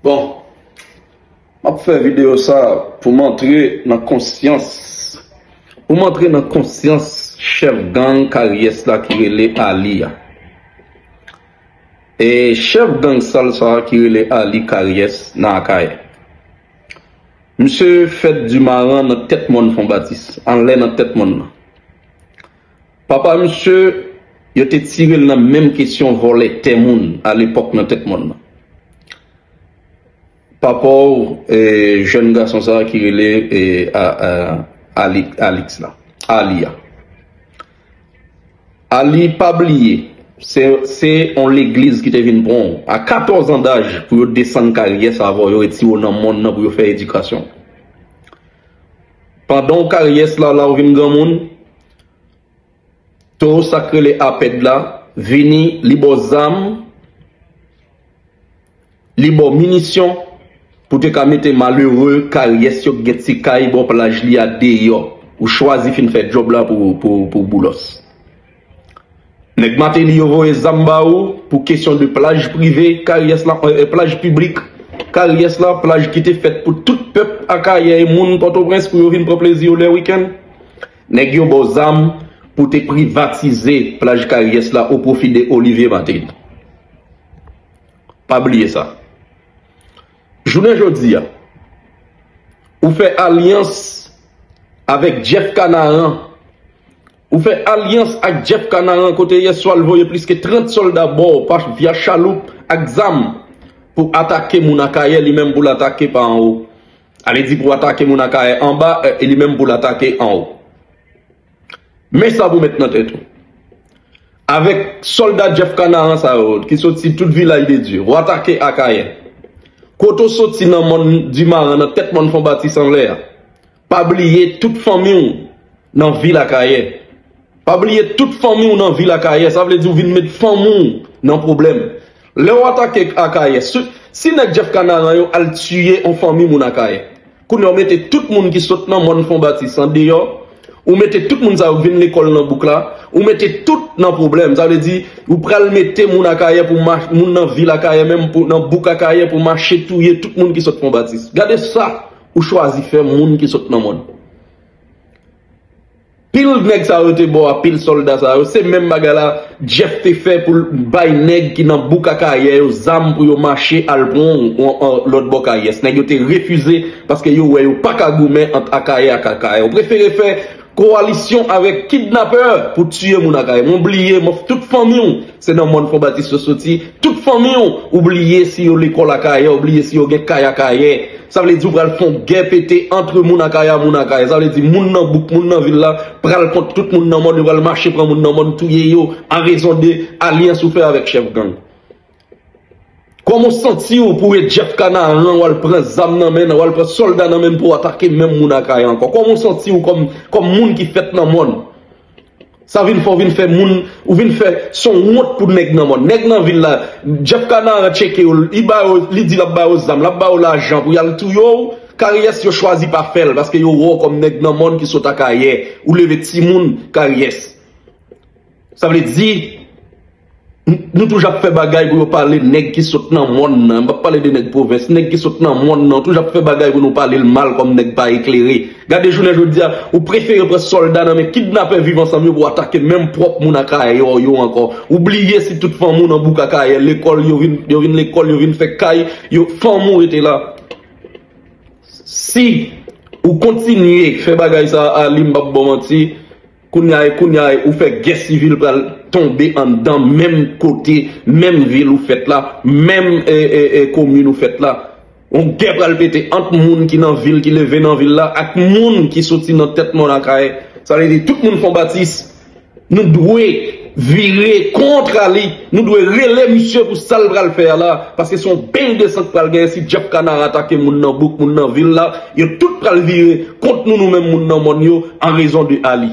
Bon, m ap fè videyo sa pou m antre nan konsyans, pou m antre nan konsyans chèf gang karyès la ki rele Ali a. E chèf gang sal sa ki rele Ali karyès nan Akayè. Misye fèt di maran nan tèt mòn Fonbatis, anlè nan tèt mòn nan. Papa misye yo te tirel nan menm kesyon vòlè tè moun a lepòk nan tèt mòn nan. Papaw jèn gason sa ki rele Alix la, Arly a. Arly pa bliye se yon legliz ki te vin pranw a 14 an daj pou yo desann kay rye sa avèw yo retire w nan mòn nan pou yo fè edikasyon. Pandanw kay ryes la la ou vin granmoun. Towo sak rele apèd la vini li baw zam li baw minisyon pou te ka mete malere karyès yo k gen ti kay bò plaj li a deyò ou chwazi fin fè djòb la pou boulos nèg mateli yo voye zam ba ou pou kesyon de plaj prive karyès la plaj piblik karyès la plaj ki te fèt pou tout pèp akayè e moun pòtoprens pou yo vin pran plezi yo lè wikenn. Nèg yo baw zam pou te privatize plaj karyès la o pwofi de Olivier Martelly. Pa bliye sa. Jounen jodi a, ou fè alyans avèk Jeff Canaran, ou fè alyans ak Jeff Canaran kote yè swa l voye plis ke 30 sòlda baw pa via chaloup ak zam pou atake moun Akayè li menm pou l atake pa anwo. Ale di pou atake moun Akayè anba e li menm pou l atake anwo. Men sa pou w met nan tèt ou, avèk sòlda Jeff Kanaran sa yo ki soti tout Vilaj de Dye, w atake Akayè. Kote w soti nan mòn Dimaran, nan tèt mòn Fon Batis anlè a, pa bliye tout fanmi w nan vil Akayè. Pa bliye tout fanmi w nan vil Akayè, sa vle di w vin met fanmi w nan pwoblèm. Lè w atake Akayè, si nèg Jeff Kanaran yo al tiye yon fanmi moun Akayè, kounye a w mete tout moun ki sot nan mòn Fon Batis an deyò, ou mete tout moun sa yo k vin lekòl nan bouk la, ou mete tout nan pwoblèm. Sa vle di ou pral mete moun Akayè pou mache, moun nan vil Akayè menm pou nan bouk Akayè pou mache touye tout moun ki sot Fon Batis. Gade sa ou chwazi fè moun ki sot nan mòn. Pil nèg sa yo te bo a pil solda sa yo se menm bagay la Jeff te fè poul bay nèg ki nan bouk akayè yo zam pou yo mache al pran lòt bò kayès nèg yo te refize paske yo wè yo paka goumen ant akayè ak akayè yo prefere fè kowalisyon avèk kidnapè pou tiye moun akayè mwen bliye mòf tout fanmiw Se nan mòn fonbatis yo soti, tout fanmi w, ou bliye si yo lekòl akayè, ou bliye si yo gen kay akayè. Sa vle di ou pral fon gè pete antre moun akayè a moun akayè. Sa vle di moun nan bouk, moun nan vil la pral kont tout moun nan mòn, yo pral mache pran moun nan mòn touye yo a rezon de alyans ou fè avèk chèf gang. Kòman w santi w pou e Jeff Canaran wal pran zam nan men nan, wal pran sòlda nan men pou atake menm moun akayè ankò? Kòman w santi w kòm moun ki fèt nan mòn? Sa vin fè w vin fè moun ou vin fè son wont pou nèg nan mòn. Nèg nan vil la Jeff Canaran tcheke yo li ba yo li di lap ba yo zam lap ba yo lajan pou yal touye w karyès yo chwazi pa fèl paske yo wè w kòm nèg nan mòn ki sot akayè ou leve timoun karyès sa vle di Nou toujou ap fè bagay pou yo pale nèg ki sot nan mòn nan. M pa pale de nèg pwovens. Nèg ki sot nan mòn nan. Yo toujou ap fè bagay pou nou pale l mal kòm nèg pa eklere. Gade jounen jodi a, ou prefere pran sòlda nan men kidnapè viv ansanm yo pou atake menm pwòp moun Akayè yo yo ankò. Ou bliye si tout fanm ou nan bouk Akayè, lekòl yo vin yo vin lekòl, yo vin fè kay, yo fanm ou rete la. Si ou kontinye fè bagay sa a Ali m pap ba w manti. Kounya e kounya e ou fè gè sivil pral tonbe anndan menm kote menm vil ou fèt la menm e komin ou fèt la yon gè pral pete ant moun ki nan vil ki leve nan vil la ak moun ki soti nan tèt mòn akayè sa vle di tout moun fon batis nou dwe Vire kontra li, nou dwe rele misye pou sa l pral fè a la, paske se yon beny de san k pral genyen si djab kana atake moun nan bouk, moun nan vil la, yo tout pral vire kont nou nou menm moun nan mòn yo an rezon de Ali.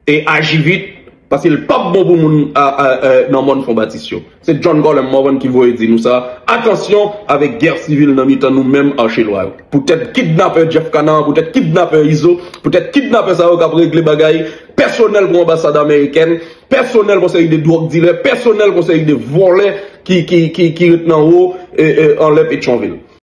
E aji vit, paske l pap bon pou moun nan mòn Fon Batis yo. Se John Colem Morvan ki voye di nou sa, atansyon avèk gè sivil nan mitan nou menm Arche Lwa yo. Poutèt kidnapè Jeff Canard, poutèt kidnapè Izo, poutèt kidnapè sa yo k ap regle bagay pèsonèl pou anbasad amerikèn, pèsonèl pou seri de dwòg dilè, pèsonèl pou seri de vòlè ki ret nan wo anlè Petyonvil.